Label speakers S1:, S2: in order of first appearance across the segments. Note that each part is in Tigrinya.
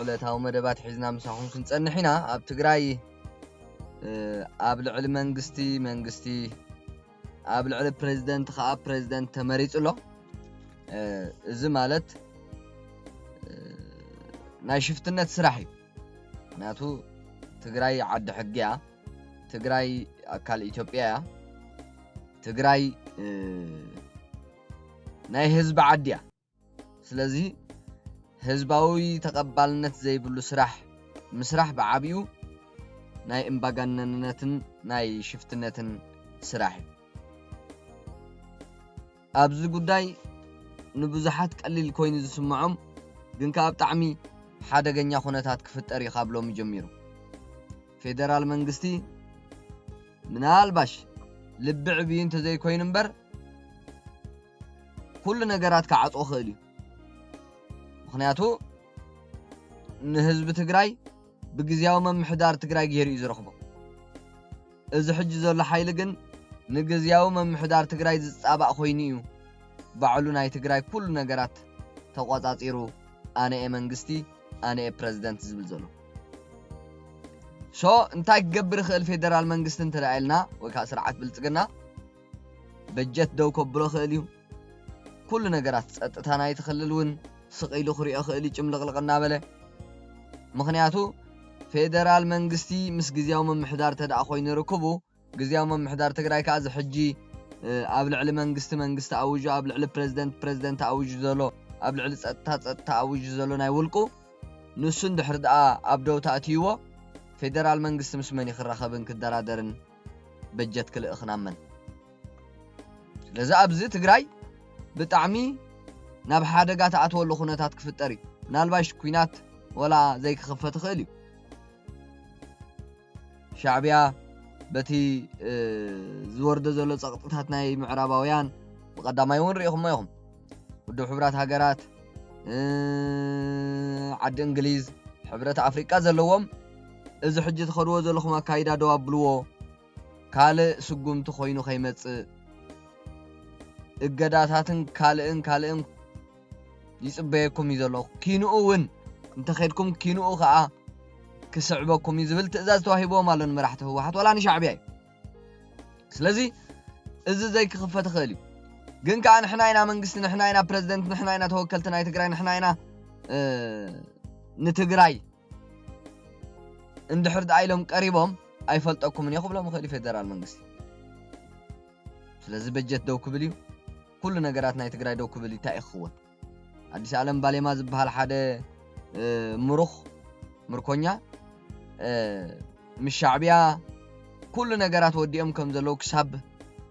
S1: ዕለታዊ መደባት ሒዝና ምሳኹም ክንጸንሕ ኢና። ኣብ ትግራይ ኣብ ልዕሊ መንግስቲ መንግስቲ ኣብ ልዕሊ ፕሬዚደንት ከዓ ፕሬዚደንት ተመሪጹ ኣሎ። እዚ ማለት ናይ ሽፍትነት ስራሕ እዩ። ምክንያቱ ትግራይ ዓዲ ሕጊ እያ። ትግራይ ኣካል ኢትዮጵያ እያ። ትግራይ ናይ ህዝቢ ዓዲ እያ። ስለዚ ህዝባዊ ተቐባልነት ዘይብሉ ስራሕ ምስራሕ ብዓቢኡ ናይ እምባጋነንነትን ናይ ሽፍትነትን ስራሕ እዩ። ኣብዚ ጉዳይ ንብዙሓት ቀሊል ኮይኑ ዝስምዖም ግን ከኣ ብጣዕሚ ሓደገኛ ኩነታት ክፍጠር እዩ ካብ ሎሚ ጀሚሩ። ፌደራል መንግስቲ ምናልባሽ ልቢ ዕብዩ እንተዘይኮይኑ እምበር ኩሉ ነገራት ክዓጾ ይኽእል እዩ። ምኽንያቱ ንህዝቢ ትግራይ ብግዝያዊ ምምሕዳር ትግራይ ገይሩ እዩ ዝረኽቦ። እዚ ሕጂ ዘሎ ሓይሊ ግን ንግዝያዊ ምምሕዳር ትግራይ ዝጻባእ ኮይኑ እዩ ባዕሉ ናይ ትግራይ ኩሉ ነገራት ተቖጻጺሩ ኣነ'የ መንግስቲ ኣነ'የ ፕረዚደንት ዝብል ዘሎ። ሶ እንታይ ክገብር ይኽእል ፌደራል መንግስቲ እንተ ኢልና ወይ ከዓ ስርዓት ብልፅግና በጀት ደው ከብሎ ክእል እዩ ኩሉ ነገራት ፀጥታ ናይቲ ክልል እውን ስቕ ኢሉ ክሪኦ ክእል እዩ ጭምልቕልቕ እናበለ ምክንያቱ ፌደራል መንግስቲ ምስ ግዜያዊ ምምሕዳር ተደኣ ኮይኑ ርክቡ ግዝያዊ ምምሕዳር ትግራይ ከኣ እዚ ሕጂ ኣብ ልዕሊ መንግስቲ መንግስቲ ኣዊጁ ኣብ ልዕሊ ፕረዚደንት ፕረዚደንት ኣዊጁ ዘሎ ኣብ ልዕሊ ጸጥታ ጸጥታ ኣዊጁ ዘሎ ናይ ውልቁ ንሱ እንድሕሪ ደኣ ኣብ ደው ተኣትይዎ ፌደራል መንግስቲ ምስ መን እዩ ክራኸብን ክደራደርን በጀት ክልእኽ ናብ መን ስለዚ ኣብዚ ትግራይ ብጣዕሚ ናብ ሓደጋ ተኣትወሉ ኩነታት ክፍጠር እዩ ምናልባሽ ኩናት ወላ ዘይክኽፈት ይኽእል እዩ ሻዕቢያ በቲ ዝወርዶ ዘሎ ጸቕጥታት ናይ ምዕራባውያን ብቐዳማይ እውን ርኢኹሞ ኢኹም ውድብ ሕብራት ሃገራት ዓዲ እንግሊዝ ሕብረት ኣፍሪቃ ዘለዎም እዚ ሕጂ ትኸድዎ ዘለኹም ኣካይዳ ደው ኣብልዎ ካልእ ስጉምቲ ኮይኑ ከይመጽእ እገዳታትን ካልእን ካልእን ይጽበየኩም እዩ ዘለኹ፣ ኪንኡ እውን እንተ ኼድኩም ኪንኡ ኸኣ ክስዕበኩም እዩ ዝብል ትእዛዝ ተዋሂብዎም ኣሎ ንመራሕቲ ህወሓት ዋላ ንሻዕብያ እዩ። ስለዚ እዚ ዘይክኽፈት ይኽእል እዩ። ግን ከኣ ንሕና ኢና መንግስቲ፣ ንሕና ኢና ፕረዚደንት፣ ንሕና ኢና ተወከልቲ ናይ ትግራይ፣ ንሕና ኢና ንትግራይ እንድሕር ደኣ ኢሎም ቀሪቦም ኣይፈልጠኩምን እየ ክብሎም ይኽእል እዩ ፌደራል መንግስቲ። ስለዚ በጀት ደው ክብል እዩ፣ ኩሉ ነገራት ናይ ትግራይ ደው ክብል እዩ፣ ታይ እዩ ክኽወን? ኣዲስ ኣለም ባሌማ ዝብሃል ሓደ ምሩኽ ምርኮኛ ምስ ሻዕብያ ኩሉ ነገራት ወዲኦም ከም ዘለዉ ክሳብ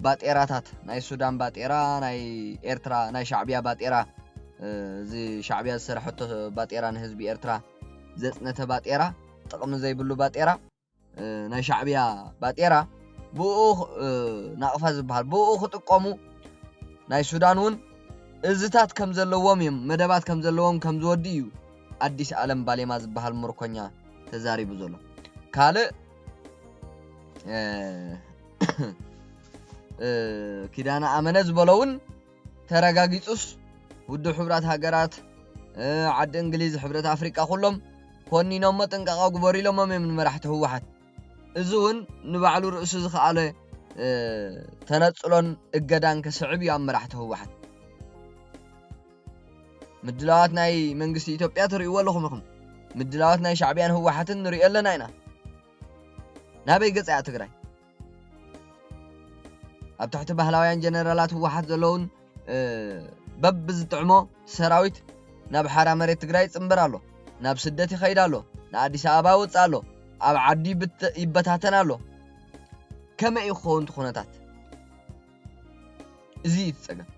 S1: ባጤራታት ናይ ሱዳን ባጤራ ናይ ኤርትራ ናይ ሻዕብያ ባጤራ እዚ ሻዕብያ ዝሰረሐቶ ባጤራ ንህዝቢ ኤርትራ ዘጽነተ ባጤራ ጥቕሚ ዘይብሉ ባጤራ ናይ ሻዕብያ ባጤራ ብኡ ናቕፋ ዝበሃል ብኡ ክጥቀሙ ናይ ሱዳን እውን እዝታት ከም ዘለዎም እዮም መደባት ከም ዘለዎም ከም ዝወዲ እዩ ኣዲስ ኣለም ባሌማ ዝበሃል ምርኮኛ ተዛሪቡ ዘሎ ካልእ ኪዳነ ኣመነ ዝበሎ እውን ተረጋጊፁስ ውድብ ሕብራት ሃገራት ዓዲ እንግሊዝ ሕብረት ኣፍሪቃ ኩሎም ኮኒኖሞ ጥንቃቐ ግበሩ ኢሎሞም እዮም ንመራሕቲ ህወሓት እዚ እውን ንባዕሉ ርእሱ ዝኸኣለ ተነፅሎን እገዳን ከስዕብ እዩ ኣብ መራሕቲ ህወሓት ምድላዋት ናይ መንግስቲ ኢትዮጵያ ትርእይዎ ኣለኹም ኢኹም ምድላዋት ናይ ሻዕብያን ህወሓትን ንሪኦ ኣለና ኢና ናበይ ገጽ እያ ትግራይ ኣብ ትሕቲ ባህላውያን ጀነራላት ህወሓት ዘለውን በብ ዝጥዕሞ ሰራዊት ናብ ሓራ መሬት ትግራይ ይፅምበር ኣሎ ናብ ስደት ይኸይድ ኣሎ ንኣዲስ ኣበባ ይወፅእ ኣሎ ኣብ ዓዲ ይበታተን ኣሎ ከመይ እዩ ክኸውን እቲ ኩነታት እዚ እዩ እቲ ጸገም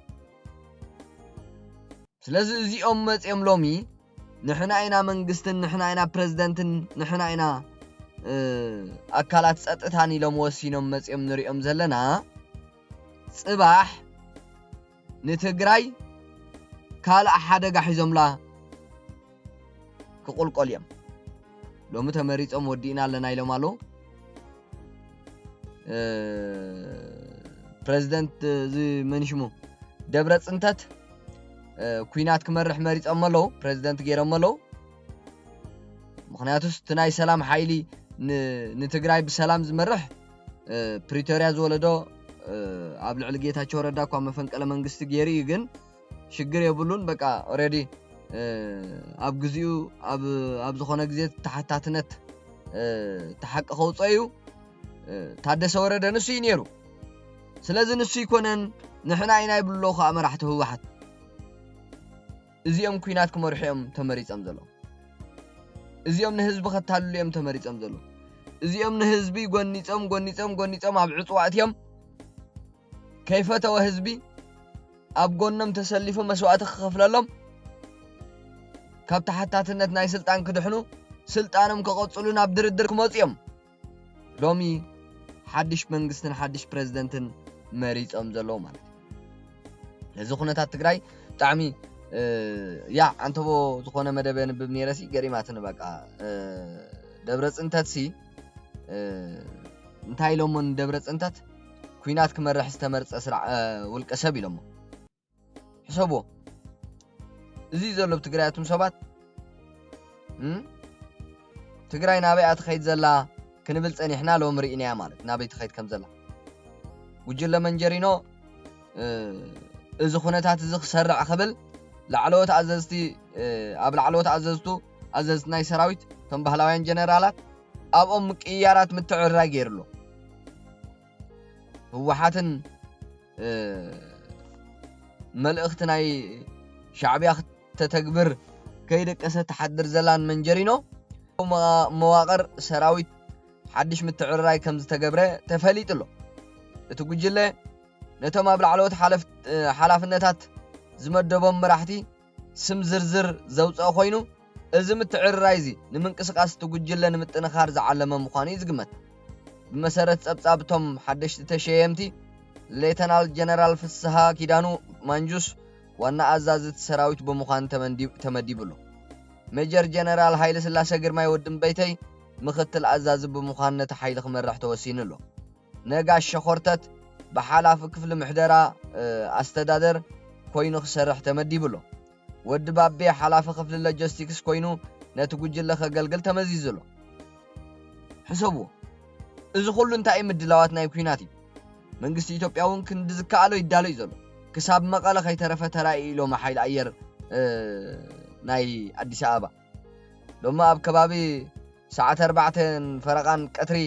S1: ስለዚ እዚኦም መጽኦም ሎሚ ንሕና ኢና መንግስትን ንሕና ኢና ፕረዚደንትን ንሕና ኢና ኣካላት ጸጥታን ኢሎም ወሲኖም መጽኦም ንሪኦም ዘለና ጽባሕ ንትግራይ ካልእ ሓደጋ ሒዞምላ ክቁልቆል እዬም ሎሚ ተመሪጾም ወዲእና ኣለና ኢሎም ኣለው ፕረዚደንት እዚ መን ሽሙ ደብረ ፅንተት ኩናት ክመርሕ መሪፆሞ ኣለዉ ፕረዚደንት ገይሮሞ ኣለዉ ምክንያቱስ እቲ ናይ ሰላም ሓይሊ ንትግራይ ብሰላም ዝመርሕ ፕሪቶርያ ዝወለዶ ኣብ ልዕሊ ጌታቸው ረዳ እኳ መፈንቀለ መንግስቲ ገይሩ እዩ ግን ሽግር የብሉን በቃ ኦሬዲ ኣብ ግዚኡ ኣብ ዝኾነ ግዜ ተሓታትነት ተሓቂ ከውፀ እዩ ታደሰ ወረደ ንሱ እዩ ነይሩ ስለዚ ንሱ ይኮነን ንሕና ኢና ይብሎ ከዓ መራሕቲ ህወሓት እዚኦም ኩናት ክመርሑ እዮም ተመሪፆም ዘሎ እዚኦም ንህዝቢ ከታልሉ እዮም ተመሪፆም ዘሎ እዚኦም ንህዝቢ ጎኒፆም ጎኒፆም ጎኒፆም ኣብ ዕፅዋ እትዮም ከይፈተወ ህዝቢ ኣብ ጎኖም ተሰሊፉ መስዋእቲ ክኸፍለሎም ካብ ተሓታትነት ናይ ስልጣን ክድሕኑ ስልጣኖም ከቐጽሉ ናብ ድርድር ክመጹ እዮም ሎሚ ሓድሽ መንግስትን ሓድሽ ፕረዚደንትን መሪጾም ዘለዉ ማለት እዩ ነዚ ኩነታት ትግራይ ብጣዕሚ ያ ኣንተቦ ዝኾነ መደበ ንብብ ነይረሲ ገሪማትኒ በቃ ደብረ ፅንተትሲ እንታይ ኢሎሞ ንደብረ ፅንተት ኩናት ክመርሕ ዝተመርጸ ውልቀ ሰብ ኢሎሞ ሕሰብዎ እዚ ዘሎ ብ ትግራይ ኣቱም ሰባት ትግራይ ናበይ እያ ትኸይድ ዘላ ክንብል ጸኒሕና ሎሚ ርኢናያ ማለት ናበይ ትኸይድ ከም ዘላ ጉጅለ መንጀሪኖ እዚ ኩነታት እዚ ክሰርዕ ክብል ላዕለዎት ኣዘዝቲ ኣብ ላዕለዎት ኣዘዝቱ ኣዘዝቲ ናይ ሰራዊት እቶም ባህላውያን ጀነራላት ኣብኦም ምቅይያራት ምትዕርራይ ገይሩ ኣሎ። ህወሓትን መልእኽቲ ናይ ሻዕብያ ክተተግብር ከይደቀሰ ትሓድር ዘላን መንጀሪኖ መዋቕር ሰራዊት ሓድሽ ምትዕርራይ ከም ዝተገብረ ተፈሊጡ ኣሎ እቲ ጉጅለ ነቶም ኣብ ላዕለዎት ሓላፍነታት ዝመደቦም መራሕቲ ስም ዝርዝር ዘውጽኣ ኮይኑ፣ እዚ ምትዕርራይ'ዚ ንምንቅስቓስ እቲ ጉጅለ ንምጥንኻር ዝዓለመ ምዃኑ'ዩ ዝግመት። ብመሰረት ጸብጻብ እቶም ሓደሽቲ ተሸየምቲ፣ ሌተናል ጀነራል ፍስሃ ኪዳኑ፣ ማንጁስ፣ ዋና ኣዛዚ እቲ ሰራዊት ብምዃን ተመዲቡ ኣሎ። ሜጀር ጀነራል ሃይለስላሰ ግርማይ፣ ወዲ እምበይተይ፣ ምኽትል ኣዛዚ ብምዃን ነቲ ሓይሊ ክመርሕ ተወሲኑ ኣሎ። ነጋሽ ሸኾርተት ብሓላፊ ክፍሊ ምሕደራ ኣስተዳደር ኮይኑ ክሰርሕ ተመዲቡ ኣሎ። ወዲ ባቤ ሓላፊ ክፍሊ ሎጀስቲክስ ኮይኑ ነቲ ጉጅለ ከገልግል ተመዚዙ ኣሎ። ሕሰብዎ! እዚ ኩሉ እንታይ እዩ ምድላዋት ናይ ኩናት እዩ። መንግስቲ ኢትዮጵያ እውን ክንዲ ዝከኣሎ ይዳሎ እዩ ዘሎ። ክሳብ መቐለ ከይተረፈ ተራእዩ ኢሎም ሓይሊ ኣየር ናይ ኣዲስ ኣበባ። ሎሚ ኣብ ከባቢ ሰዓት ኣርባዕተን ፈረቓን ቀትሪ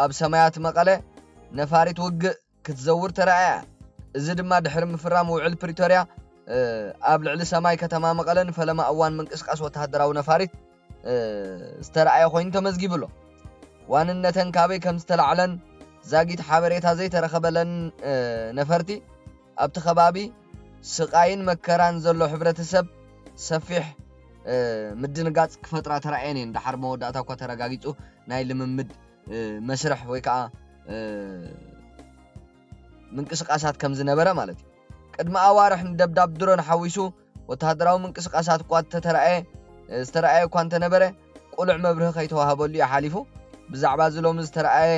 S1: ኣብ ሰማያት መቐለ ነፋሪት ውግእ ክትዘውር ተራእያ። እዚ ድማ ድሕሪ ምፍራም ውዕል ፕሪቶርያ ኣብ ልዕሊ ሰማይ ከተማ መቐለ ንፈለማ እዋን ምንቅስቓስ ወተሃደራዊ ነፋሪት ዝተራእየ ኮይኑ ተመዝጊቡ ኣሎ። ዋንነተን ካበይ ከም ዝተላዕለን ዛጊት ሓበሬታ ዘይተረኸበለን ነፈርቲ ኣብቲ ከባቢ ስቓይን መከራን ዘሎ ሕብረተሰብ ሰፊሕ ምድንጋጽ ክፈጥራ ተራእየን እየን። ደሓር መወዳእታ እኳ ተረጋጊጹ ናይ ልምምድ መስርሕ ወይ ከኣ ምንቅስቓሳት ከም ዝነበረ ማለት እዩ። ቅድሚ ኣዋርሕ ንደብዳብ ድሮን ሓዊሱ ወተሃደራዊ ምንቅስቓሳት እኳ እተተራእየ ዝተራእየ እኳ እንተ ነበረ፣ ቅሉዕ መብርሂ ከይተዋህበሉ እዩ ሓሊፉ። ብዛዕባ እዚ ሎሚ ዝተራእየ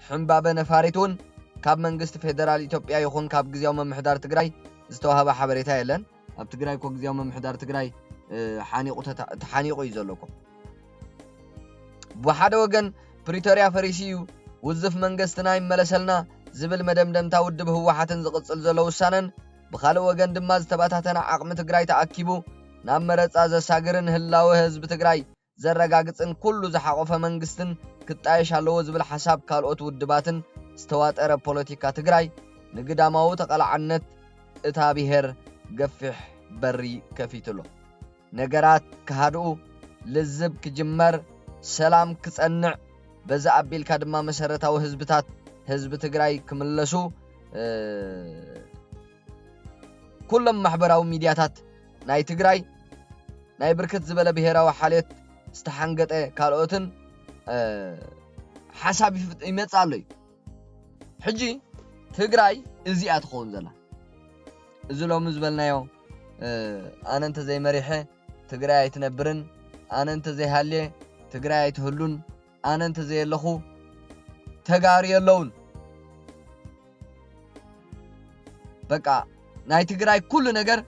S1: ሕንባበ ነፋሪት እውን ካብ መንግስቲ ፌደራል ኢትዮጵያ ይኹን ካብ ግዝያዊ ምምሕዳር ትግራይ ዝተዋህበ ሓበሬታ የለን። ኣብ ትግራይ እኮ ግዝያዊ ምምሕዳር ትግራይ ሓኒቑ ተሓኒቑ እዩ ዘሎ እኮ። ብሓደ ወገን ፕሪቶርያ ፈሪሱ እዩ፣ ውዝፍ መንገስትና ይመለሰልና ዝብል መደምደምታ ውድብ ህወሓትን ዝቕጽል ዘሎ ውሳነን ብኻልእ ወገን ድማ ዝተበታተነ ዓቕሚ ትግራይ ተኣኪቡ ናብ መረፃ ዘሳግርን ህላወ ህዝቢ ትግራይ ዘረጋግፅን ኩሉ ዝሓቖፈ መንግስትን ክጣየሽ ኣለዎ ዝብል ሓሳብ ካልኦት ውድባትን ዝተዋጠረ ፖለቲካ ትግራይ ንግዳማዊ ተቓላዕነት እታ ብሄር ገፊሕ በሪ ከፊቱ'ሎ። ነገራት ክሃድኡ፣ ልዝብ ክጅመር፣ ሰላም ክጸንዕ፣ በዚ ኣቢልካ ድማ መሰረታዊ ህዝብታት ህዝቢ ትግራይ ክምለሱ ኩሎም ማሕበራዊ ሚድያታት ናይ ትግራይ ናይ ብርክት ዝበለ ብሄራዊ ሓልዮት ዝተሓንገጠ ካልኦትን ሓሳብ ይመጽእ ኣሎ እዩ ሕጂ ትግራይ እዚኣ ትኸውን ዘላ እዚ ሎሚ ዝበልናዮ ኣነ እንተዘይመሪሐ ትግራይ ኣይትነብርን፣ ኣነ እንተዘይሃልየ ትግራይ ኣይትህሉን፣ ኣነ እንተዘየለኹ ተጋሩ የለውን። በቃ ናይ ትግራይ ኩሉ ነገር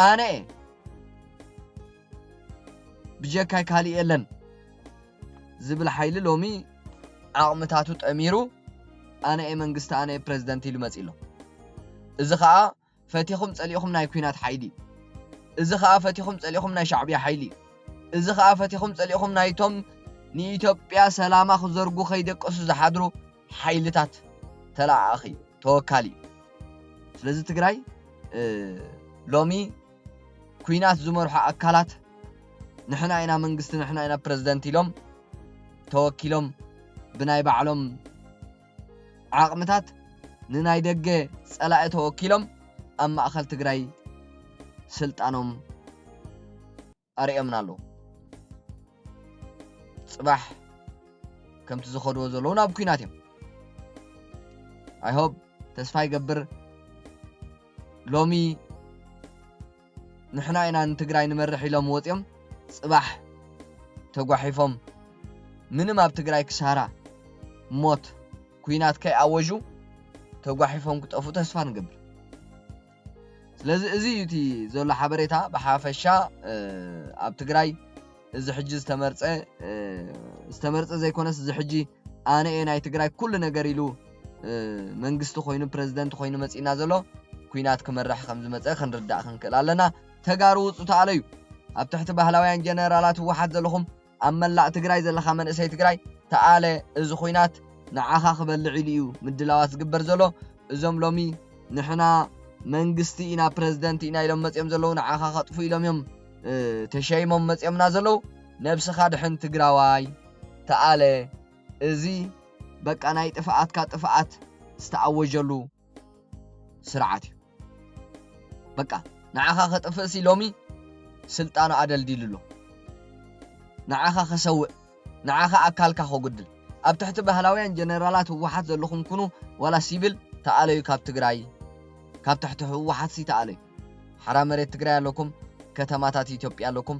S1: ኣነ እየ ብጀካይ ካልእ የለን ዝብል ሓይሊ ሎሚ ዓቕምታቱ ጠሚሩ ኣነ እየ መንግስቲ ኣነ እየ ፕረዚደንት ኢሉ መፂ ኣሎ እዚ ከዓ ፈቲኹም ጸሊእኹም ናይ ኩናት ሓይሊ እዚ ከኣ ፈቲኹም ጸሊእኹም ናይ ሻዕብያ ሓይሊ እዚ ከኣ ፈቲኹም ጸሊእኹም ናይቶም ንኢትዮጵያ ሰላማ ክዘርጉ ከይደቀሱ ዝሓድሩ ሓይልታት ተለኣኣኺ ተወካሊ ስለዚ ትግራይ ሎሚ ኩናት ዝመርሑ ኣካላት ንሕና ኢና መንግስቲ ንሕና ኢና ፕረዚደንት ኢሎም ተወኪሎም ብናይ ባዕሎም ዓቕምታት ንናይ ደገ ፀላኢ ተወኪሎም ኣብ ማእኸል ትግራይ ስልጣኖም ኣርእዮምና ኣለዉ። ፅባሕ ከምቲ ዝኸድዎ ዘለዉ ናብ ኩናት እዮም። ኣይሆብ ተስፋ ይገብር ሎሚ ንሕና ኢና ንትግራይ ንመርሕ ኢሎም ወፅዮም ፅባሕ ተጓሒፎም ምንም ኣብ ትግራይ ክሳራ ሞት ኩናት ከይኣወዡ ተጓሒፎም ክጠፍኡ ተስፋ ንገብር ስለዚ እዚ እዩ እቲ ዘሎ ሓበሬታ ብሓፈሻ ኣብ ትግራይ እዚ ሕጂ ዝተመርፀ ዝተመርፀ ዘይኮነስ እዚ ሕጂ ኣነ እየ ናይ ትግራይ ኩሉ ነገር ኢሉ መንግስቲ ኮይኑ ፕረዚደንት ኮይኑ መጺእና ዘሎ ኩናት ክመርሕ ከም ዝመጸ ክንርዳእ ክንክእል ኣለና ተጋሩ ውጹ ተኣለዩ ኣብ ትሕቲ ባህላውያን ጀነራላት ህወሓት ዘለኹም ኣብ መላእ ትግራይ ዘለኻ መንእሰይ ትግራይ ተኣለ እዚ ኩናት ንዓኻ ክበልዕ ኢሉ እዩ ምድላዋት ዝግበር ዘሎ እዞም ሎሚ ንሕና መንግስቲ ኢና ፕረዚደንት ኢና ኢሎም መፅኦም ዘለዉ ንዓኻ ከጥፉ ኢሎም እዮም ተሸይሞም መፅኦምና ዘለዉ ነብስኻ ድሕን ትግራዋይ ተኣለ እዚ በቃ ናይ ጥፍኣትካ ጥፍኣት ዝተኣወጀሉ ስርዓት እዩ በቃ ንዓኻ ከጥፍእሲ ሎሚ ስልጣኑ ኣደልዲሉ ኣሎ ንዓኻ ከሰውእ ንዓኻ ኣካልካ ከጉድል ኣብ ትሕቲ ባህላውያን ጀነራላት ህወሓት ዘለኹም ኩኑ ዋላ ሲቪል ተኣለዩ ካብ ትግራይ ካብ ትሕቲ ህወሓትሲ ተኣለዩ ሓራ መሬት ትግራይ ኣለኩም ከተማታት ኢትዮጵያ ኣለኩም